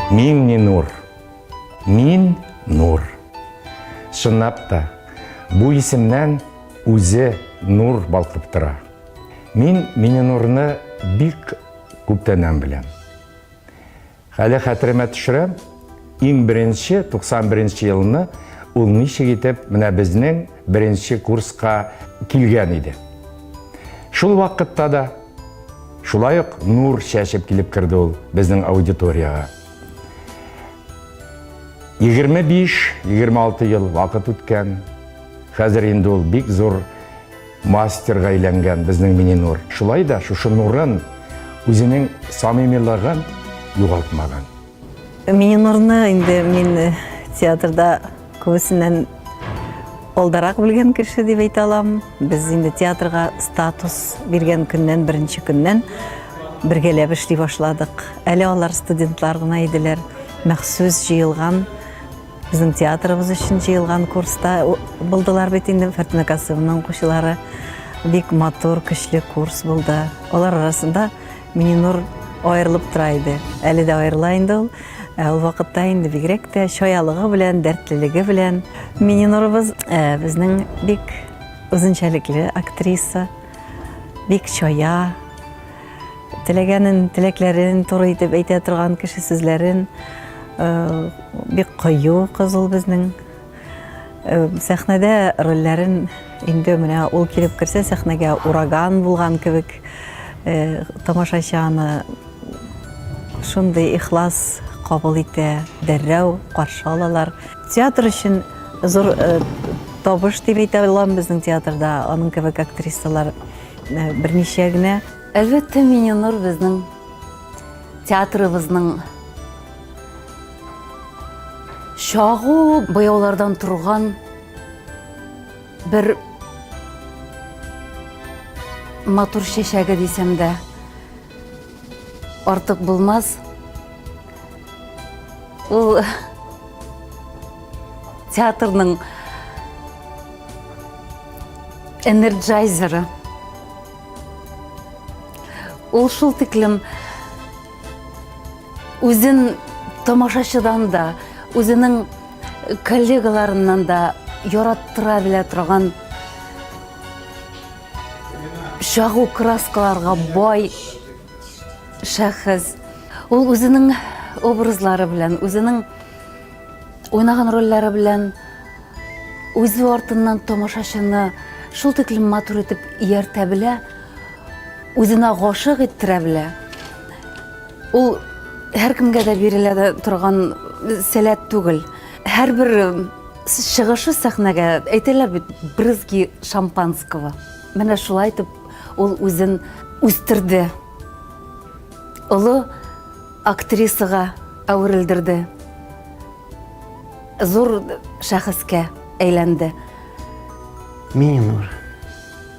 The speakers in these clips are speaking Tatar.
Мин не нур. Мин нур. Шыннап та, бу исемнән үзе нур балкып тора. Мин Миненурны бик күптәннән беләм. Хәле хәтеремә төшерәм, иң беренче 91 нче елны ул ничек итеп менә безнең беренче курска килгән иде. Шул вакытта да шулай ук нур чәчеп килеп керде ул безнең аудиториягә. 25-26 ел вакыт үткән, хәзер инде ул бик зур Мастерга әйләнгән безнең Мининур шулай да шушы нурын, үзенең самимилыгын югалтмаган. Мининурны инде мин театрда күбесеннән алдарак белгән кеше дип әйтә алам. Без инде театрга статус биргән көннән, беренче көннән бергәләп эшли башладык. Әле алар студентлар гына иделәр. Махсус җыелган Безнең театрыбыз өчен җыелган курста булдылар бит инде Фәртүнә Касымовның укучылары. Бик матур, көчле курс булды. Алар арасында Мининур аерылып тора иде. Әле дә аерыла инде ул. Ә ул вакытта инде бигрәк тә чаялыгы белән, дәртлелеге белән. Мининурыбыз э, безнең бик үзенчәлекле актриса, бик чая, Теләгәнен, теләкләрен туры итеп әйтә торган кеше сүзләрен э, бик кыю кыз ул безнең. Э, сәхнәдә рольләрен инде менә ул килеп керсә сәхнәгә ураган булган кебек э, тамашачы аны шундый ихлас кабул итә, дәррәү каршы алалар. Театр өчен зур табыш дип әйтә алам безнең театрда, аның кебек актрисалар берничә генә. Әлбәттә, Мининур безнең театрыбызның чагу буяулардан торган бер матур чәчәге дисәм дә Артык булмас. Ул театрның энерджайзеры. Ул шул тиклем үзен тамашачыдан да, үзенең коллегаларыннан да яраттыра белә торган Чагу краскаларга бай шәхес. Ул үзенең образлары белән, үзенең уйнаган рольләре белән үзе артыннан тамашачыны шул тиклем матур итеп ияртә белә, үзенә гашык иттерә белә. Ул һәркемгә дә бирелә торган сәләт түгел. Һәрбер Чыгышы сәхнәгә әйтәләр бит брызги шампанского. Менә шулай итеп ул үзен үстерде. Олы актрисага әверелдерде. Зур шәхескә әйләнде. Мининур.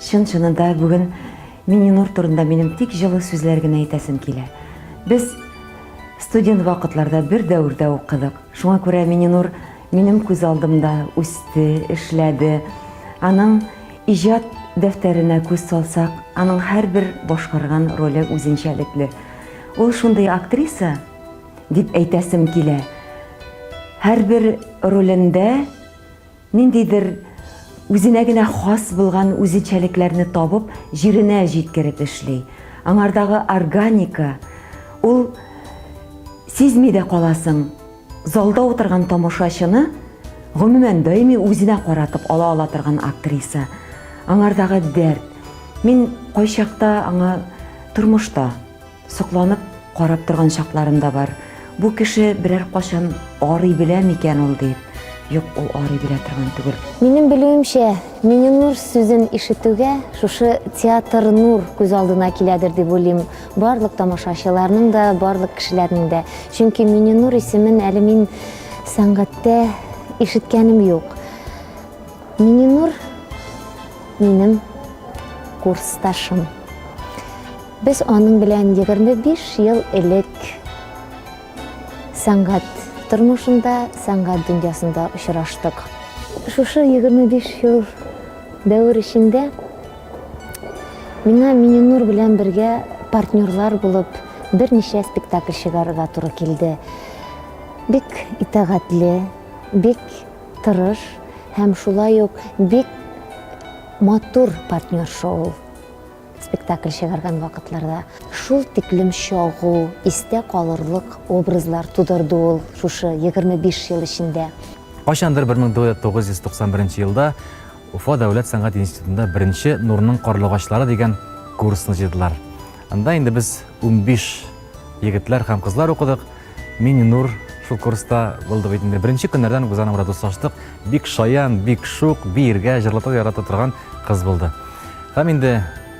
Чын-чынында бүген Мининур турында минем тик җылы сүзләр генә әйтәсем килә. Без студент вакытларда бер дәвердә укыдык. Шуңа күрә Мининур минем күз алдымда үсте, эшләде. Аның иҗат дәфтәренә күз салсак, аның һәрбер башкарган роле үзенчәлекле. Ул шундый актриса, дип әйтәсем килә, һәрбер ролендә, Ниндидер үзенә генә хас булган үзенчәлекләрне табып, җиренә җиткереп эшли. Аңардагы органика, ул сизми дә каласың, залда утырган тамашачыны гомумән даими үзенә каратып ала ала торган актриса. Аңардагы дәрт, мин кайчакта аңа тормышта, Сокланып карап торган чакларым да бар. Бу кеше берәр качан арый белә микән ул дип. Юк, ул арый белә торган түгел. Минем белүемчә, Миненур сүзен ишетүгә, шушы театр нур күз алдына киләдер дип уйлыйм. Барлык тамашачыларның да, барлык кешеләрнең дә. Чөнки Миненур исемен әле мин сәнгатьтә ишеткәнем юк. Миненур минем курсташым. Без аның белән егерме биш ел элек сәнгать тормышында, сәнгать дөньясында очраштык. Шушы егерме биш ел дәвер эчендә миңа Миңенур белән бергә партнерлар булып берничә спектакль чыгарырга туры килде. Бик итагатьле, бик тырыш һәм шулай ук бик матур партнерша ул. Спектакль чыгарган вакытларда шул тиклем чагу, истә калырлык образлар тудырды ул шушы 25 ел эчендә. Кайчандыр 1991 елда Уфа дәүләт сәнгать институтында беренче Нурның карлыгачлары дигән курсны җыйдылар. Анда инде без унбиш егетләр һәм кызлар укыдык. Миңнур шул курста булды бит инде. Беренче көннәрдән үк без аның белән дуслаштык. Бик шаян, бик шук, биергә, җырлатырга ярата торган кыз булды. Һәм инде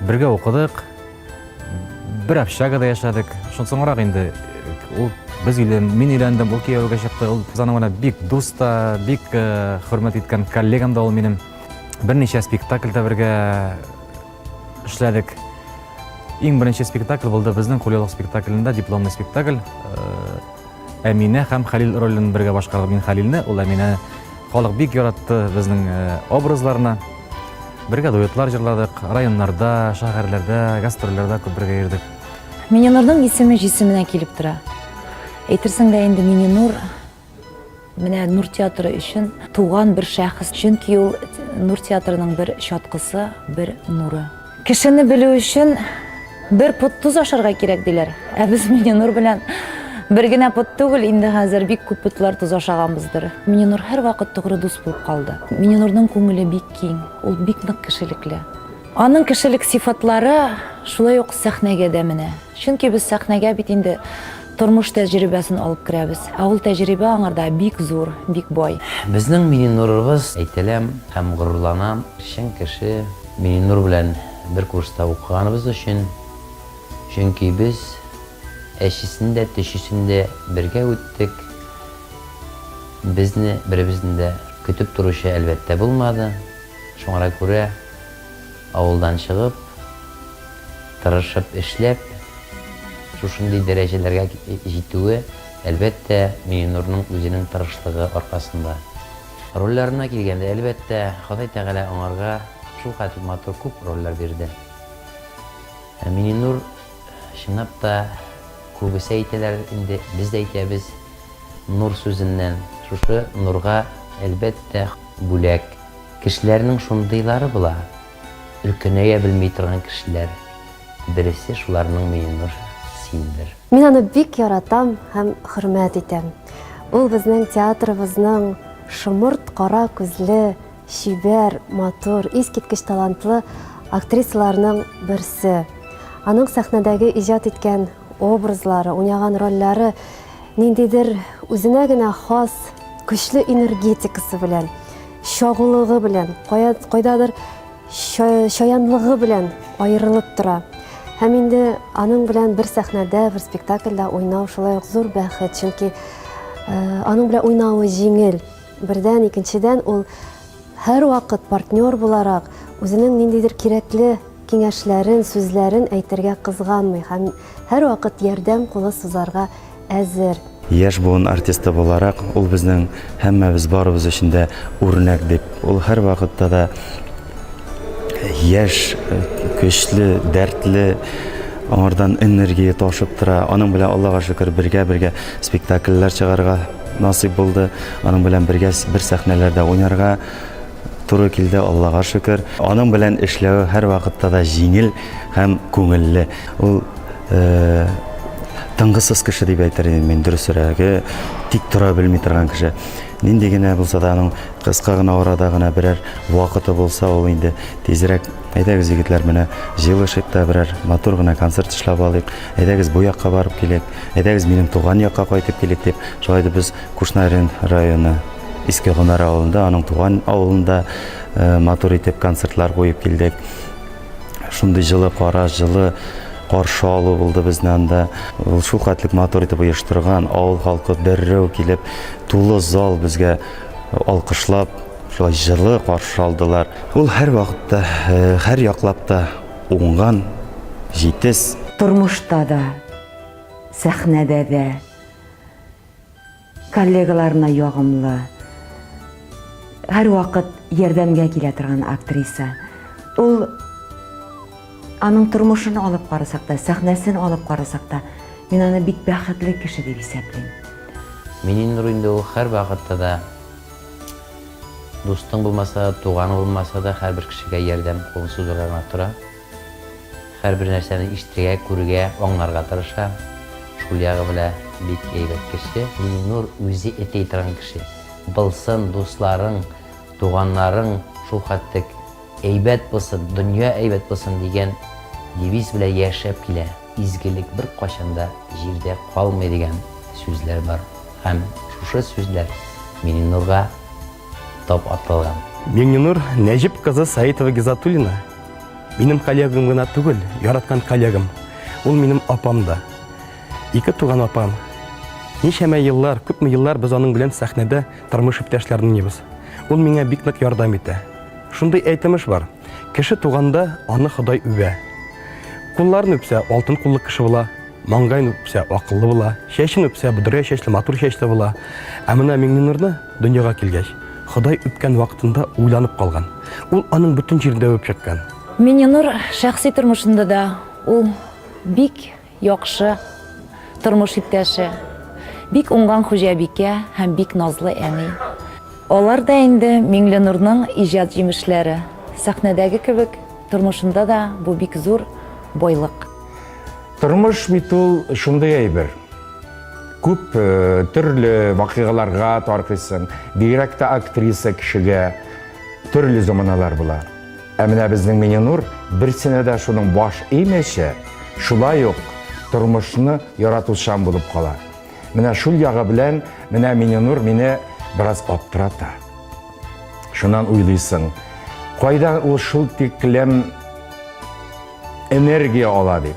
бергә укыдык, бер общагада яшәдек. Шул соңрак инде ул без өйлән, мин өйләндем, ул кияүгә чыкты. Ул без аның белән бик дус та, бик э, хөрмәт иткән коллегам да ул минем. Берничә спектакльдә бергә Эшләдек. Иң беренче спектакль булды безнең Кулелок спектаклендә дипломный спектакль. Э, Әминә һәм Хәлил ролен бергә башкардык. Мин Хәлилне, ул Әминә. Халык бик яратты безнең э, образларны. Бергә дуэтлар җырладык, районнарда, шәһәрләрдә, гастрольләрдә күп бергә йөрдек. Миненурның исеме җисеменә килеп тора. Әйтерсең лә инде Миненур Менә Нур театры өчен туган бер шәхес, чөнки ул Нур театрының бер чаткысы, бер нуры. Кешене белү өчен бер пот тоз ашарга кирәк диләр. Ә без Миненур белән бер генә пот түгел, инде хәзер бик күп потлар тоз ашаганбыздыр. Миненур һәрвакыт тугры дус булып калды. Миненурның күңеле бик киң, ул бик нык кешелекле. Аның кешелек сыйфатлары шулай ук сәхнәгә дә менә. Чөнки без сәхнәгә бит инде Тормыш тәҗрибәсен алып керәбез. Ә ул тәҗрибә аңарда бик зур, бик бай. Безнең Мининурыбыз, әйтеләм һәм горурланам, чын кеше. Мининур белән бер курста укыганыбыз өчен. Чөнки без әчесен дә, төчесен дә бергә үттек. Безне беребезне дә көтеп торучы, әлбәттә, булмады. Шуңара күрә. Авылдан чыгып, тырышып эшләп, шушындый дәрәҗәләргә җитүе, әлбәттә, Миңнурның үзенең тырышлыгы аркасында. Рольләренә килгәндә, әлбәттә, Ходай Тәгалә аңарга шулкадәр матур күп рольләр бирде. Ә Миңнур, чынлап та, күбесе әйтәләр инде, без дә әйтәбез, нур сүзеннән. Шушы нурга, әлбәттә, бүләк. Кешеләрнең шундыйлары була, өлкәнәя белми торган кешеләр, бересе шуларның Миңнур синдер. Мин аны бик яратам һәм хөрмәт итәм. Ул безнең театрыбызның шомырт кара күзле, чибәр, матур, искиткеч талантлы актрисаларының берсе. Аның сәхнәдәге иҗат иткән Образлары, уйнаган рольләре ниндидер үзенә генә хас көчле энергетикасы белән, чагулыгы белән, кайдадыр чаянлыгы белән аерылып тора. Һәм инде аның белән бер сәхнәдә, бер спектакльдә уйнау шулай ук зур бәхет, чөнки э, аның белән уйнавы җиңел. Бердән, икенчедән ул Һәрвакыт партнер буларак, үзенең ниндидер кирәкле киңәшләрен, сүзләрен әйтергә кызганмый һәм һәрвакыт ярдәм кулы сузарга әзер. Яшь буын артисты буларак, ул безнең һәммәбез, барыбыз өчен дә үрнәк дип. Ул һәрвакытта да яшь, көчле, дәртле, аңардан энергия ташып тора. Аның белән, Аллага шөкер, бергә-бергә спектакльләр чыгарга, Насыйп булды аның белән бергә бер сәхнәләрдә уйнарга туры килде, Аллага шөкер. Аның белән эшләү һәрвакытта да җиңел һәм күңелле. Ул э, тынгысыз кеше дип әйтер идем мин, дөресрәге, тик тора белми торган кеше. Нинди генә булса да аның кыска гына арада гына берәр вакыты булса, ул инде тизрәк әйдәгез, егетләр, менә җыелышыйк та берәр матур гына концерт эшләп алыйк, әйдәгез, бу якка барып килик. Әйдәгез минем туган якка кайтып килик дип, шулай итеп без Кушнарин районы Иске Гонар авылында, аның туган авылында э, матур итеп концертлар куеп килдек. Шундый җылы кара, җылы каршы алу булды безне анда. Ул шул хәтлек матур итеп оештырган, авыл халкы дәррәү килеп, тулы зал безгә алкышлап, шулай җылы каршы алдылар. Ул һәр вакытта, э, һәр яклап та уңган, җитез. Тормышта да, Сәхнәдә дә коллегаларына ягымлы, һәрвакыт ярдәмгә килә торган актриса. Ул аның тормышын алып карасак та, сәхнәсен алып карасак та, мин аны бик бәхетле кеше дип исәплим. Мининур инде ул һәрвакытта да дустың булмаса да, туганың булмаса да, һәрбер кешегә ярдәм кулын сузарга гына тора. Һәрбер нәрсәне ишетергә, күрергә, аңларга тырыша. Шул ягы белә бик әйбәт кеше. Миннур үзе этей торган кеше. Былсын, дусларың, туганнарың шул хәтлек әйбәт булсын, дөнья әйбәт булсын дигән девиз белән яшәп килә. Изгелек беркайчан да җирдә калмый дигән сүзләр бар. Һәм шушы сүзләр Миннурга. Тап аталган. Миңнинур Нәҗип кызы Саитова Гизатуллина минем коллегам гына түгел, яраткан коллегам. Ул минем апам да. Ике туган апам. Ничәмә еллар, күпме еллар без аның белән сәхнәдә тормыш иптәшләре уйныйбыз. Ул миңа бик нык ярдәм итә. Шундый әйтемеш бар. Кеше туганда аны Ходай үбә. Кулларын үпсә, алтын куллы кеше була, маңгайын үпсә, акыллы була, чәчен үпсә, бодрая чәчле, матур чәчле була. Ә менә Миңненурны дөньяга килгәч, Ходай үпкән вакытында уйланып калган. Ул аның бөтен җирендә үбеп чыккан. Миңненур шәхси тормышында да ул бик Яхшы тормыш иптәше, бик уңган хуҗабикә һәм бик назлы әни. Алар да инде Миңленурның иҗат җимешләре. Сәхнәдәге кебек, тормышында да бу бик зур байлык. Тормыш бит ул шундый әйбер. Күп э, төрле вакыйгаларга таркыйсың. Бигрәк тә актриса кешегә төрле заманалар була. Ә менә безнең Мининур берсенә дә шуның баш имеше, шулай ук тормышны яратучан булып кала. Менә шул ягы белән менә Мининур мине бераз аптырата. Шуннан уйлыйсың, кайдан ул шул тиклем энергия ала дип.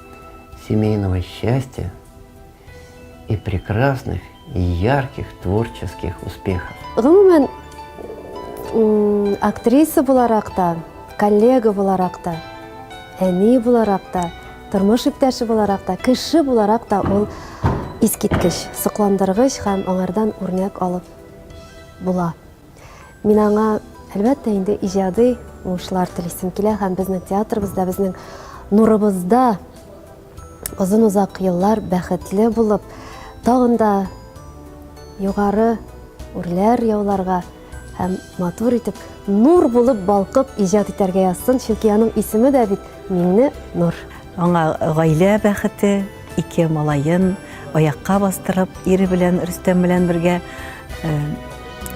семейного счастья и прекрасных и ярких творческих успехов. Гомумән, актриса буларак та, коллега буларак та, әни буларак та, тормыш иптәше буларак та, кеше буларак та ул искиткеч, сокландыргыч һәм аңардан үрнәк алып була. Мин аңа, әлбәттә, инде иҗади уңышлар телисем килә һәм безнең театрыбызда, безнең нурыбызда озын озак еллар бәхетле булып, тагын да югары үрләр яуларга һәм матур итеп, нур булып балкып иҗат итәргә язсын, чөнки аның исеме дә бит Миңне Нур. Аңа гаилә бәхете, Ике малаен аякка бастырып, ире белән Рөстәм белән бергә э,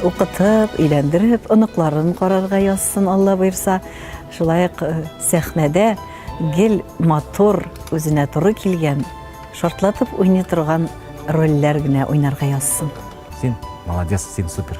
укытып, өйләндереп, оныкларын карарга язсын, Алла боерса. Шулай ук э, сәхнәдә гел матур, үзенә туры килгән, шартлатып уйный торган рольләр генә уйнарга язсын. Син молодец, син супер.